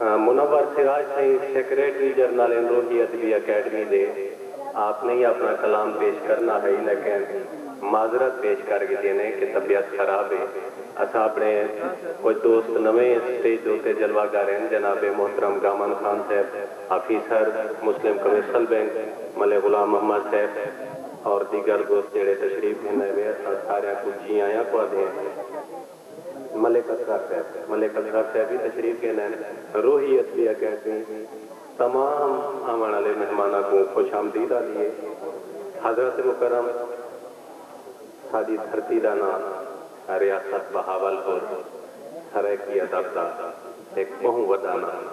منور سراج سئیں secretary general Amrohi Adabi academy دے آپ نئیں اپݨا کلام پیش کرݨا ہئی لیکن معذرت پیش کر گھدی نے کہ طبیعت خراب ہے اساں اپݨے کجھ دوست نویں سٹیج دے اتے جلوہ گر ہن جناب محترم گامن خان صاحب آفیسر مسلم کمرشل بینک ملے غلام محمد صاحب اور دیگر دوست جیڑھے تشریف گھن آئے وے اساں ساریاں کوں جی آیاں کوں آدھیں۔ ملک اسرار صاحب ملک اسرار صاحب وی تشریف گھن ہن۔ روہی ادبی اکیڈمی تمام آوݨ آلے مہماناں کوں خوش آمدید آندی ہے۔ حضرات مکرم ساݙی دھرتی دا ناں ریاست بہاول پور سرائیکی ادب دا ہک ٻہوں وݙا ناں ہے۔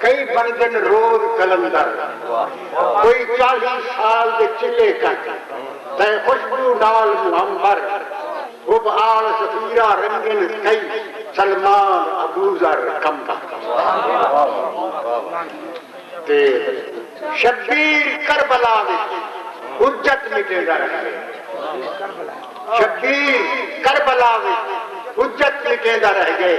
کئی بندن روز قلندر کوئی چالی سال دے چلے کن تئیں خوشبو نال مہمبر حب آل سفیرہ رنگن کئی سلمان ابوذر قمبر تے شبیر کربلا وچ حجت مٹیندا رہندے شبیر کربلا وچ حجت مٹیندا رہ گئے۔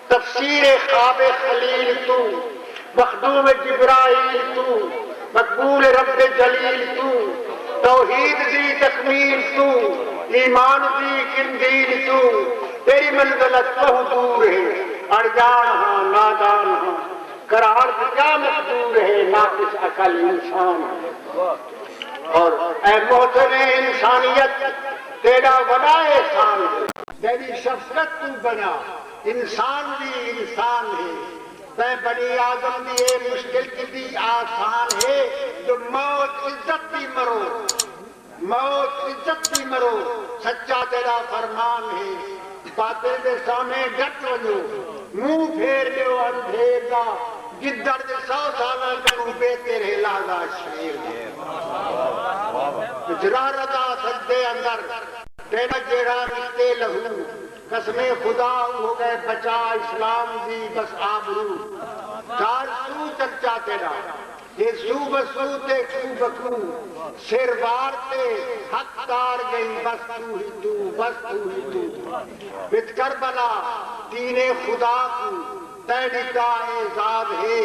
تفسیر خواب خلیل توں مخدوم جبرائیل توں مقبول رب جلیل توں توحید دی تکمیل توں ایمان دی قندیل توں تیری منزل اچ ٻہوں دور ہے اݨڄاݨ ہاں نادان ہاں قرار دی کیا مقدور ہے ناقص عقل انسان ہاں اور اے محسن انسانیت تیݙا وݙا احسان ہے۔ تیݙی شفقت توں بݨیا انسان وی انسان ہے تیں بنی آدم دی اے مشکل کیتی آسان ہے جو موت عزت دی مرو موت عزت دی مرو سچا تیڈا فرمان ہے باطل دے سامھے ڈٹ ونجو منہ پھیر ڈیو اندھیر دا گدڑ دے سو سالاں کنوں بہتر ہے لازا شیر دے جرارت آ سجدے اندر تیڈا جیڑھا نکتے لہو قسم خدا او ہو گئے بچا اسلام دی بس آبرو کار سو چرچا تیڈا تے سو بسو تے کو بکو سر وار تے حق تار گئیں بس تو ہی تو بس تو ہی تو وچ کربلا دین خدا کو تیں ڈتا اعزاز ہے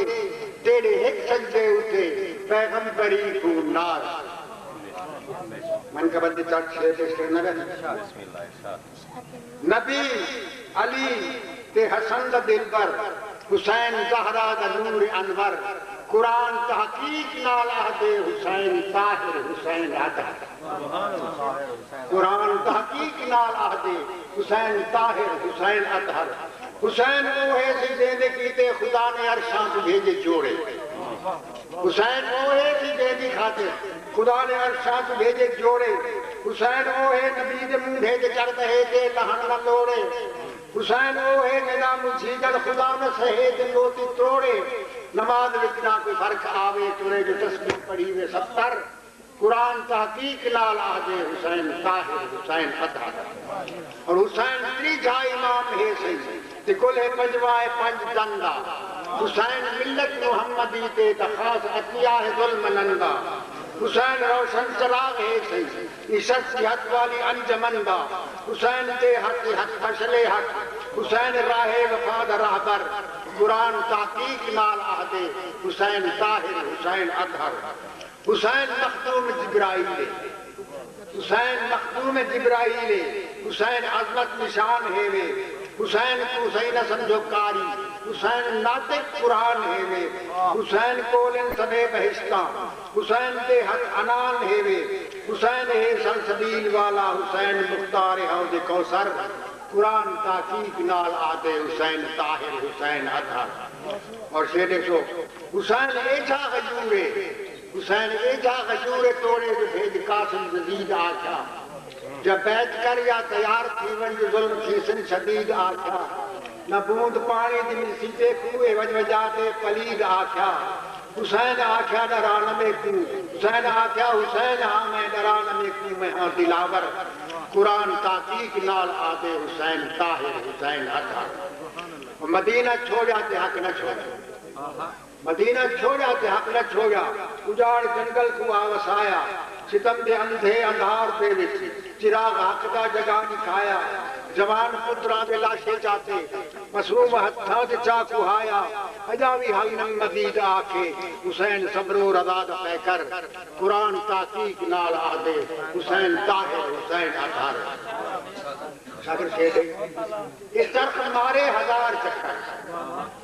تیڈے ہک سجدے اتے پیغمبری کو ناز۔ منقبت دی چٹ شعر پیش کرنا گا جی۔ نبی، علی تے حسن دا دلبر، حسین زہرا دا نور انور، قرآن تحقیق نال آہدے حسین طاہر حسین اطہر۔ قرآن تحقیق نال آہدے حسین طاہر حسین اطہر۔ حسین اوہے سی جیندے کیتے خدا نے عرشاں کوں بھیجے جوڑے۔ حسین اوہے سی جیندی خاطر خدا نے عرش شاہ کوں بھیجے جوڑے حسین اوہے نبی دے مونڈھے تے چڑھ بہے تے لہن نہ لوڑے حسین اوہے جینداں مجھیدن خدا نہ سہے تے موتی تروڑے نماز وچ نہ کوئی فرق آوے ترے جو تسبیح پڑھی وے ستر۔ قرآن تحقیق نال آہدے حسین طاہر حسین ادھا اور حسین تریجھا امام ہے سئی تے کلہے پنجواں ہے پنج دن دا حسین ملت محمدی تے دا خاص عطیہ ہے ذل منن دا حسین روشن چراغ ہے سئی نشست جہت والی انجمن دا حسین تے حق ای حق مشعل حق حسین راہ وفا دا راہبر قرآن تحقیق نال آہدے حسین طاہر حسین ادھر حسین مخدوم جبرائیل اے حسین مخدوم جبرائیل اے حسین عظمت نشان ہیوے حسین کوں سئیں نہ سمجھو قاری حسین ناطق قرآن ہیوے حسین کول ہن سبھے بہشتاں حسین دے ہتھ عنان ہیوے حسین ہے سلسبیل والا حسین مختار حوض کوثر۔ قرآن تحقیق نال آہدے حسین طاہر حسین اطہر اور شے ݙیکھو۔ حسین ایجھا غیور اے حسین ایجھا غیور اے توڑے جو ہیج قاسم یزید آکھیا جا بیعت کر یا تیار تھی ونج جو ظلم تھیسن شدید آکھیا نہ بوند پاݨی دی ملسی پے کوں اے وج وجا تے پلید آکھیا حسین آکھیا ݙرا نہ میکوں حسین آکھیا حسین ہاں میں ݙرا نہ میکوں میں ہاں دلاور قرآن تحقیق نال آہدے حسین طاہر حسین حق حق مدینہ چھوڑیا تے حق نہ چھوڑیا۔ مدینہ چھوڑیا تے حق نہ چھوڑیا اجاڑ جنگل کوں آ وسایا ستم دے اندھے اندھار دے وچ چراغ حق دا جگا ݙکھایا جوان پتراں دے لاشیں چاتے معصوم ہتھاں تے چا کھوہایا اجاں وی حل نویں مزید آکھے حسین صبرو رضا دا پیکر قرآن تحقیق نال آہدے حسین طاہر حسین اطہر۔ شاگر کھیڈے اس درخت مارے ہزار چکر۔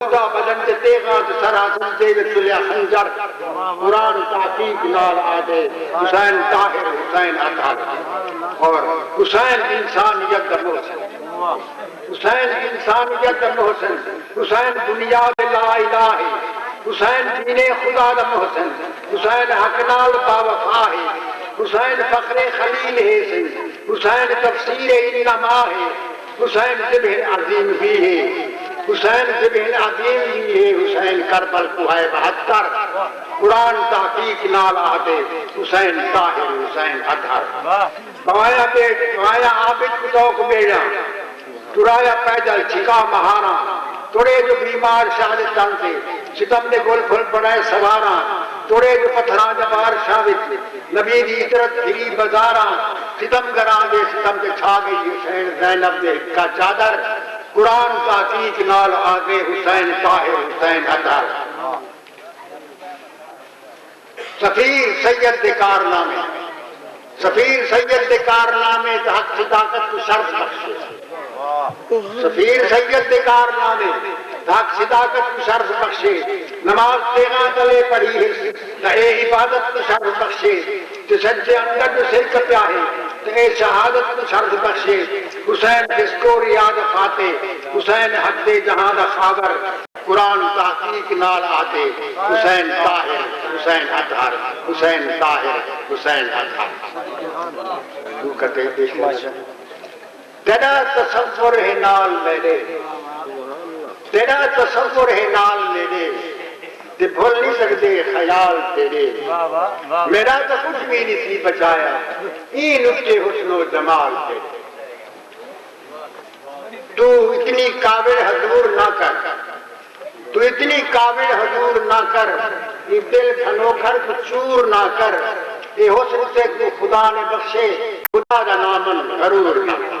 خدا بجٹ دے تیغاں اچ سرحاصل دے وچ تلیا خنجر قرآن تحقیق نال آہدے حسین طاہر حسین اطہر اور حسین انسانیت دا محسن حسین انسانیت دا محسن حسین بنیاد لا الہ ہے حسین دین خدا دا محسن حسین حق نال با وفا ہے حسین فخر خلیل ہے سئیں حسین تفسیر انما ہے حسین ذبح عظیم وی ہے حسین ذبح عظیم وی ہے حسین کربل کوں ہائے بہتر قرآن تحقیق نال آہدے حسین طاہر حسین اطہر بوایا بیٹ بوایا عابد کوں طوق بیڑیاں ٹرایا پیدل چھکا مہاراں تڑے جو بیمار شاہ دے تن تے ستم دے گل پھل بنائے سواراں تڑے جو پتھراں دا بار شاہ وچ نبی دی عترت پھری بازاراں ستم گراں دے ستم تے چھا گئی حسین زینب دے ہکا چادر قرآن تحقیق نال آگے حسین طاہر حسین اطہر سفیر سید دے کارنامے سفیر سید دے کارنامے تے حق صداقت کوں شرف بخشے۔ سفیر سید دے کارنامے دھک صداقت کوں شرف بخشے نماز تیغاں تلے پڑھی ہس تاں اے عبادت کوں شرف بخشے جشن دے اندر جو سر کپیا ہے تاں اے شہادت کوں شرف بخشے حسین جسکو ریاض فاتح حسین حق دے جہاں دا خاور قرآن تحقیق نال آہدے حسین طاہر حسین اطہر حسین طاہر حسین اطہر۔ تیݙا تصور ہے نال میݙے تیݙا تصور ہے نال میݙے تے بھل نی سڳدے خیال تیݙے میݙا تاں کجھ وی نی سی بچایا ایں لٹے حسن و جمال تیݙے توں اتنی کاوڑ حضور نہ کر۔ توں اتنی کاوڑ حضور نہ کر ایں دل گھنوکھر کوں چور نہ کر اے حسن تیکوں خدا نے بخشے خدا دا ناں من غرور نہ کر۔